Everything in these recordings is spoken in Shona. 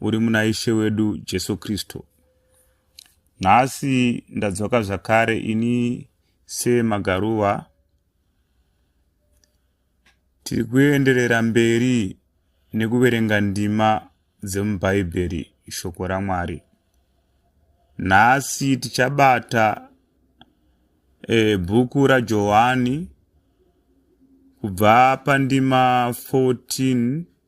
uri muna Ishe wedu Jesu Kristu. Nhasi ndadzoka zvakare ini seMagaruva. Tiri kuenderera mberi nekuverenga ndima dzemuBhaibheri shoko raMwari. Nhasi tichabata e, bhuku raJohani kubva pandima 14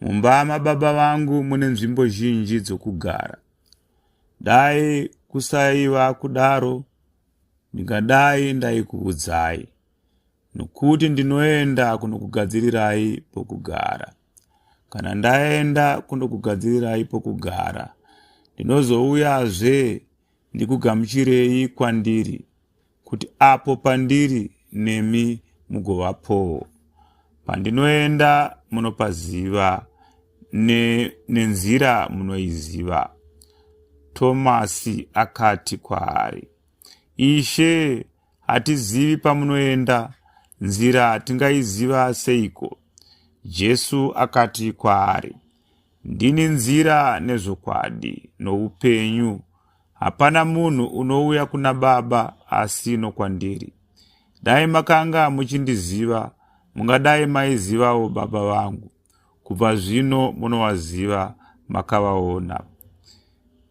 Mumba mababa vangu mune nzvimbo zhinji dzokugara. Dai kusaiva kudaro, ndingadai ndaikuudzai, nokuti ndinoenda kunokugadzirirai pokugara. Kana ndaenda kunokugadzirirai pokugara, ndinozouyazve ndikugamuchirei kwandiri, kuti apo pandiri nemi mugovapowo pandinoenda munopaziva ne, nenzira munoiziva tomasi akati kwaari ishe hatizivi pamunoenda nzira tingaiziva seiko jesu akati kwaari Ndini nzira nezvokwadi noupenyu. Hapana munhu unouya kuna Baba asi nokwandiri. Dai makanga muchindiziva, mungadai maizivawo Baba vangu. Kubva zvino munovaziva, makavaona.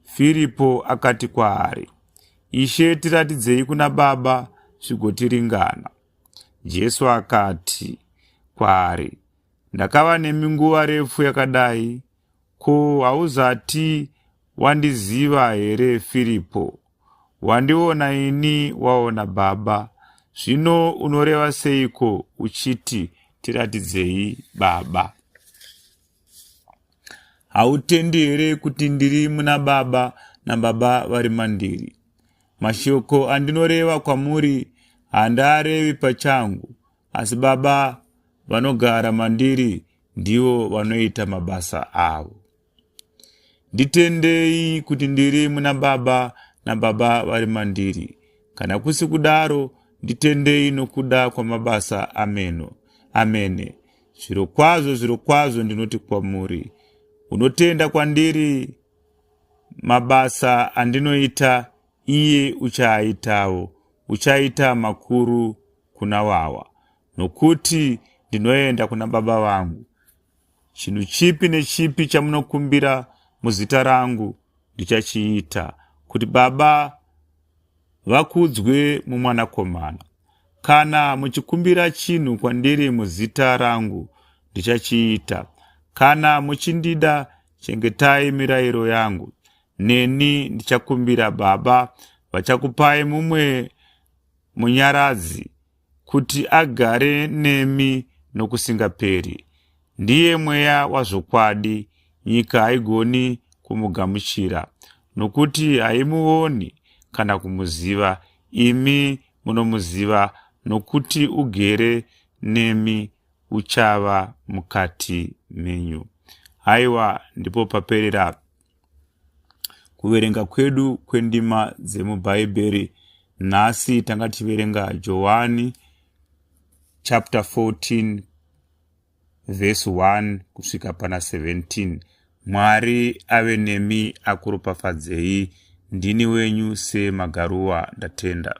Firipo akati kwaari, Ishe, tiratidzei kuna Baba zvigotiringana. Jesu akati kwaari, Ndakava nemi nguva refu yakadai, ko hauzati wandiziva here Firipo? Wandiona ini waona Baba. Zvino unoreva seiko uchiti tiratidzei Baba? Hautendi here kuti ndiri muna Baba naBaba vari mandiri? Mashoko andinoreva kwamuri handaarevi pachangu, asi baba vanogara mandiri ndivo vanoita mabasa avo nditendei kuti ndiri muna baba nababa vari mandiri kana kusi kudaro nditendei nokuda kwamabasa ameno amene zviro kwazvo zviro kwazvo ndinoti kwamuri unotenda kwandiri mabasa andinoita iye uchaaitawo uchaita makuru kuna wawa, nokuti ndinoenda kuna Baba vangu. Chinhu chipi nechipi chamunokumbira muzita rangu ndichachiita, kuti Baba vakudzwe muMwanakomana. Kana muchikumbira chinhu kwandiri muzita rangu, ndichachiita. Kana muchindida, chengetai mirayiro yangu. Neni ndichakumbira Baba, vachakupai mumwe Munyaradzi, kuti agare nemi nokusingaperi. Ndiye mweya wazvokwadi, nyika haigoni kumugamuchira, nokuti haimuoni kana kumuziva. Imi munomuziva, nokuti ugere nemi, uchava mukati menyu. Haiwa, ndipo paperera kuverenga kwedu kwendima dzemubhaibheri nhasi tanga tichiverenga johani chapter 14 vhesi 1 kusvika pana 17 mwari ave nemi akuropafadzei ndini wenyu semagaruwa ndatenda